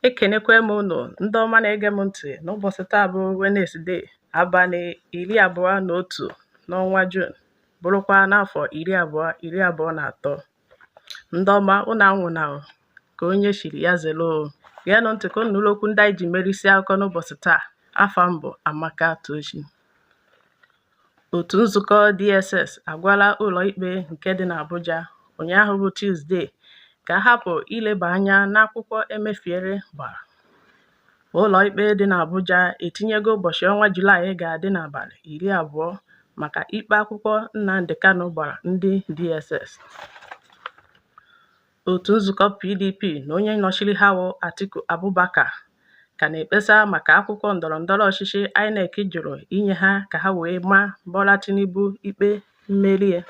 ekenekwa m unu ndị ọma na-ege m ntị n'ụbọchị taa bụ Wenesde abalị iri abụọ na otu n'ọnwa Jun bụrụkwa n'afọ iri abụọ iri abụọ na atọ ndị ọma unu anwụna ka onye chiri ya zelo geenụ ntị ka unu nụrụ okwu ndị anyị ji merisi akụkọ n'ụbọchị taa afa m bụ Amaka Tochi Otu nzukọ DSS agwala ụlọikpe nke dị n'Abuja ụnyaahụ bụ Tuzdee ka a hapụ ileba anya n'akwụkwọ Emefiele gbara. Ụlọikpe dị n'Abuja etinyego ụbọchị ọnwa Julaị ga-adị n'abalị iri abụọ maka ikpe akwụkwọ Nnamdi Kanu gbara ndị DSS. Otu nzukọ PDP na onye nọchiri ha wụ Atiku Abubakar ka na-ekpesa maka akwụkwọ ndọrọ ndọrọ ọchịchị INEC jụrụ inye ha ka ha wee ma Bola Tinubu ikpe mmeri ya.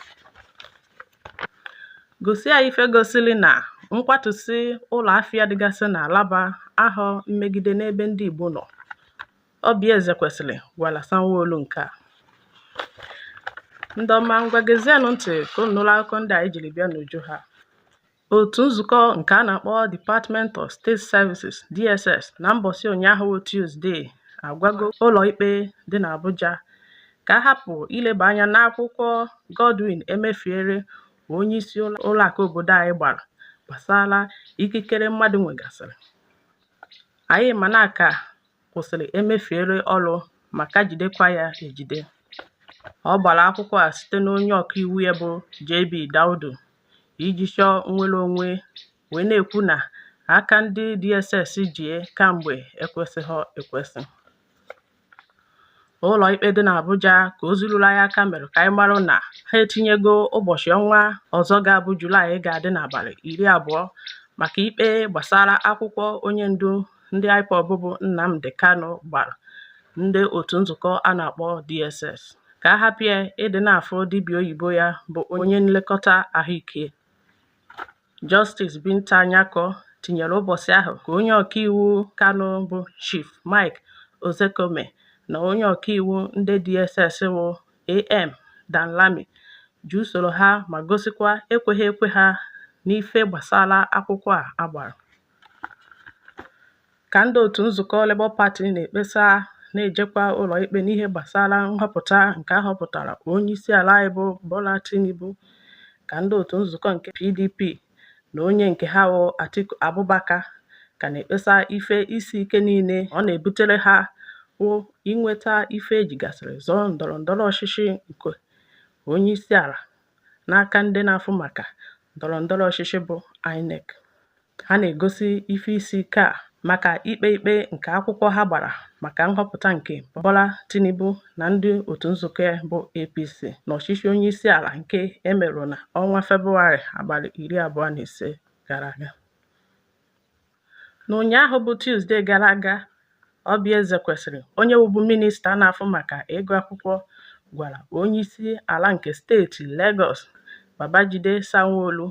Gosi anyị ife gosiri na nkwatusi ụlọ afịa dịgasị n'Alaba ahọ mmegide n'ebe ndị Igbo nọ. Oby Ezekwesili gwara Sanwo-Olu nke a. Ndị ọma ngwa gezienụ ntị ka unu nụrụ akụkọ ndị anyị jiri bịa n'uju ha. Otu nzukọ nke a na-akpọ Department of State Services, DSS, na mbọsị ụnyaahụ bụ Tuzdee agwago ụlọikpe dị n'Abuja ka a hapụ ileba anya n'akwụkwọ Godwin Emefiele bụ onyeisi ụlọakụ obodo anyị gbara gbasara ikikere mmadụ nwegasịrị. Anyị ma na ka kwụsịrị Emefiele ọrụ ma ka jidekwa ya ejide. Ọ gbara akwụkwọ a site n'onye ọkaiwu ya bụ JB Daudu iji chọọ nnwere onwe wee na-ekwu na aka ndị DSS ji ya kamgbe ekwesịghị ekwesị. Ụlọikpe dị n'Abuja ka ozi ruru anyị aka mere ka anyị mara na ha etinyego ụbọchị ọnwa ọzọ ga-abụ Julaị ga-adị n'abalị iri abụọ maka ikpe gbasara akwụkwọ onye ndu ndị IPOB bụ Nnamdi Kanu gbara ndị otu nzukọ a na-akpọ DSS ka a hapụ ya ịdị na-afụ dibịa oyibo ya bụ onye nlekọta ahụike. Justice Binta Nyako tinyere ụbọchị ahụ ka onye ọkaiwu Kanu bụ Chief Mike Ozekome na onye ọkaiwu ndị DSS bụ AM Danlami ji usoro ha ma gosikwa ekweghị ekwe ha n'ife gbasara akwụkwọ a a gbara. ka ndị otu nzukọ Labour Party na-ekpesa na-ejekwa ụlọikpe n'ihe gbasara nhọpụta nke a họpụtara onyeisiala anyị bụ Bola Tinubu ka ndị otu nzukọ nke PDP na onye nke ha wụ Atiku Abubakar ka na-ekpesa ife isi ike niile ọ na-ebutere ha wụ inweta ife e jigasịrị zọọ ndọrọ ndọrọ ọchịchị nke onyeisiala n'aka ndị na-afụ maka ndọrọ ndọrọ ọchịchị bụ INEC. Ha na-egosi ife isi ike a maka ikpe ikpe nke akwụkwọ ha gbara maka nhọpụta nke Bola Tinubu na ndị otu nzukọ bụ APC n'ọchịchị onyeisiala nke e merụ n'ọnwa Febụwarị abalị iri abụọ na ise gara aga. N'ụnyaahụ bụ Tuzde gara aga, Oby Ezekwesili, onye bụbu minista na-afụ maka ịgụ akwụkwọ gwara onyeisi ala nke steeti Legọs, Babajide Sanwo-Olu,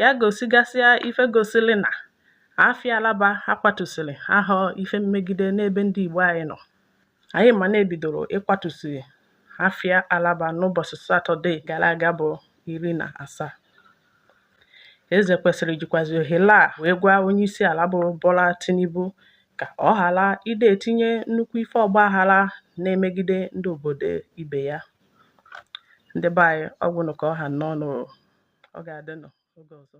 ya gosigasịa ife gosiri na afịa Alaba a kwatusịrị ahọ ife mmegide n'ebe ndị Igbo anyị nọ. Anyị ma na e bidoro ịkwatusi afịa Alaba n'ụbọchị Satọde gara aga bụ iri na asaa. Ezekwesili jikwazi ohere a wee gwa onyeisiala bụ Bola Tinubu ka ọ ghara ịdị etinye nnukwu ife ọgbaghara na-emegide ndị obodo ibe ya. Ndị be anyị ọ gwụnụ ka ọ ha n'ọnụ ọ ga-adịnụ oge ọzọ.